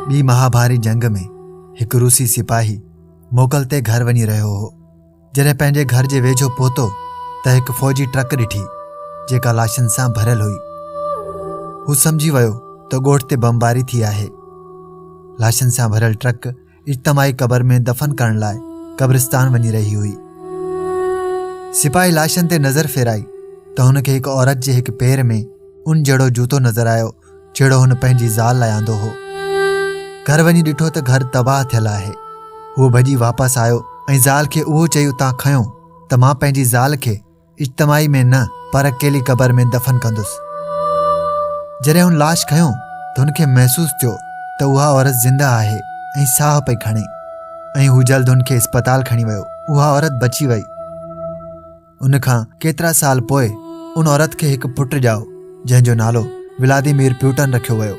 ٻي مهاڀاري جنگ ۾ هڪ روسي سپاهي موڪل تي گهر وڃي رهيو هو جڏهن پنهنجي گهر جي ويجهو پهتو ته هڪ فوجي ٽرڪ ڏٺي جيڪا لاشن سان ڀريل هئي هو سمجهي ويو ته ڳوٺ تي بمباري ٿي آهي لاشن سان ڀريل ٽرڪ اجتماعي قبر ۾ دفن ڪرڻ لاء قبرستان وڃي رهي هئي سپاهي لاشن تي نظر ڦيرائي ته هن کي هڪ عورت جي هڪ پير ۾ ان جهڙو جوتو نظر آيو جهڙو هن پنهنجي زال لاء آندو هو گهر وڃي ڏٺو ته گهر تباهه ٿيل آهي هو ڀڄي واپس آيو ۽ زال کي اهو چئي اتان کنيو ته مان پنهنجي زال کي اجتماعي ۾ نه پر اڪيلي قبر ۾ دفن ڪندس جڏهن هن لاش کنيو ته هن کي محسوس ٿيو ته اها عورت زنده آهي ۽ ساهه پئي کڻي ۽ هو جلد هن کي اسپتال کڻي ويو اها عورت بچي وئي ان کان ڪيترا سال پوء ان عورت کي هڪ پٽ ڄائو جنهن جو نالو ولاديمير پيوٽن رکيو ويو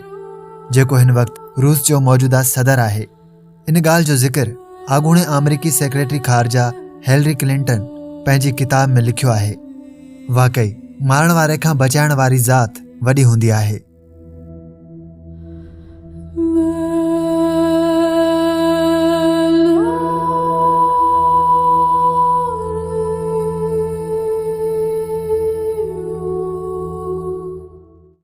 جيڪو هن وقت روس جو موجوده صدر آهي ان ڳالهه جو ذڪر اڳوڻي آمريڪي سيڪريٽري خارجا هيلري ڪلنٽن پنهنجي ڪتاب ۾ لکيو آهي واقعي مارڻ واري کان بچائڻ واري ذات وڏي هوندي آهي